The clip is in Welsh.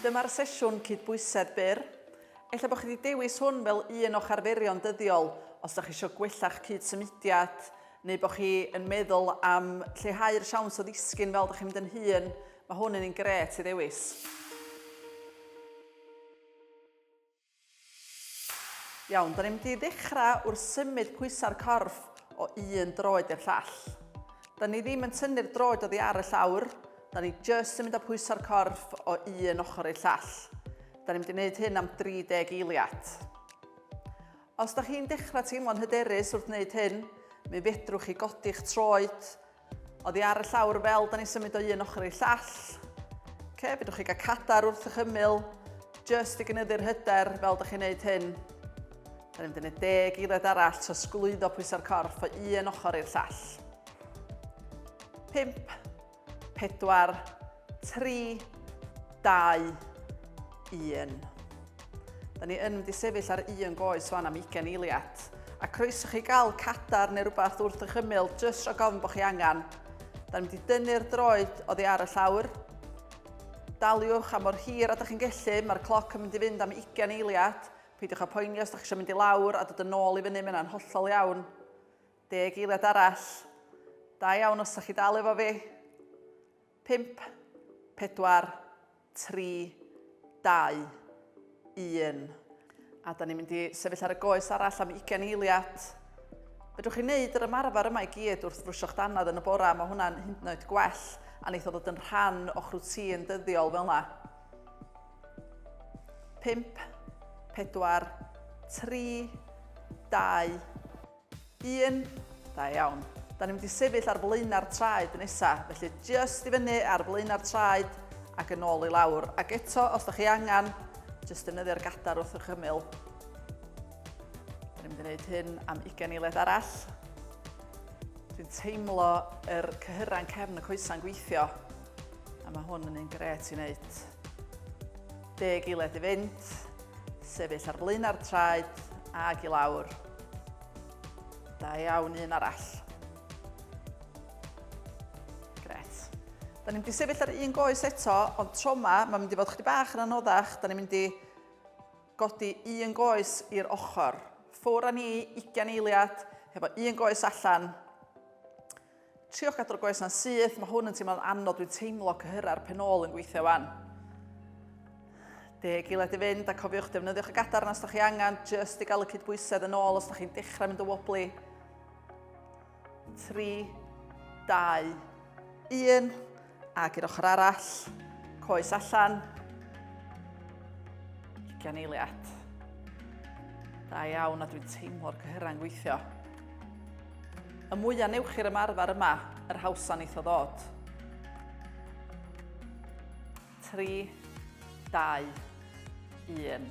Dyma'r sesiwn cydbwysedd byr. Ella bod chi wedi dewis hwn fel un o'ch arferion dyddiol os ydych chi eisiau gwella'ch cyd-symudiad neu bod chi yn meddwl am lleihau'r siawns o ddisgyn fel ydych chi'n mynd yn hun, mae hwn yn un gret i ddewis. Iawn, da ni'n mynd i ddechrau wrth symud pwysau'r corff o un droed i'r llall. Da ni ddim yn tynnu'r droed oddi ar y llawr, da ni jyst yn mynd â pwysau'r corff o un ochr i'r llall. Da ni'n mynd i wneud hyn am 30 eiliad. Os da chi'n dechrau teimlo'n hyderus wrth wneud hyn, mi fedrwch chi godi'ch troed Oddi ar y llawr fel da ni'n symud o un ochr i'r llall. Okay, fedrwch chi gael cadar wrth eich ymyl, just i gynyddu'r hyder fel da chi'n neud hyn. Da ni'n mynd deg eiliad arall, so sglwyddo pwysau'r corff o un ochr i'r llall. 5, 4, 3, 2, 1. Da ni yn mynd i sefyll ar un goes fan am 20 eiliad. A croeso chi gael cadar neu rhywbeth wrth eich ymyl, jyst rhag ofn bod chi angen. Da ni'n mynd i dynnu'r droed oddi ar y llawr. Daliwch am o'r hir a da chi'n gellu, mae'r cloc yn mynd i fynd am 20 eiliad. Peidiwch â poeni os da chi eisiau mynd i lawr a dod yn ôl i fyny, mae'n hollol iawn. Deg eiliad arall. Da iawn os da chi dal efo fi. Pump, pedwar, tri, dau, un. A da ni'n mynd i sefyll ar y goes arall am 20 eiliad. Fedrwch chi wneud yr ymarfer yma i gyd wrth frwsio'ch dannedd yn y bora, mae hwnna'n hyd yn oed gwell a neith o ddod yn rhan o'ch rwtîn dyddiol fel yna. 5, 4, 3, 2, 1. Da iawn. Da ni'n mynd i sefyll ar flaenau'r traed nesa, felly jyst i fyny ar flaenau'r traed ac yn ôl i lawr. Ac eto, os da chi angen, jyst defnyddio'r gadar wrth eich ymyl. Da ni'n mynd i wneud hyn am 20 eiliad arall. Dwi'n teimlo yr er cyhyrau'n cefn y coesau'n gweithio, a mae hwn yn un gret i wneud. Deg eiliad i fynd, sefyll ar flaenau'r traed ag i lawr. Da iawn, un arall. Gret. Da ni'n mynd i sefyll ar un goes eto, ond tro yma, mae'n mynd i fod chdi bach yn anoddach. Da ni'n mynd i godi un goes i'r ochr. Ffwr a ni, 20 eiliad, hefo un goes allan. Triwch gadw'r goes na'n syth, mae hwn yn teimlo'n anodd, dwi'n teimlo cyhyra'r pen ôl yn gweithio wan. Deg eiliad i fynd a cofiwch defnyddiwch y gadarn os da chi angen, jyst i gael y cydbwysedd yn ôl os da chi'n dechrau mynd o woblu. 3, 2, 1. Ac i'r ochr arall, coes allan. Ugian eiliad. Da iawn a dwi'n teimlo'r cyhyrau'n gweithio. Y mwyaf newch chi'r ymarfer yma, yr hawsa neith o ddod. 3, 2, 1.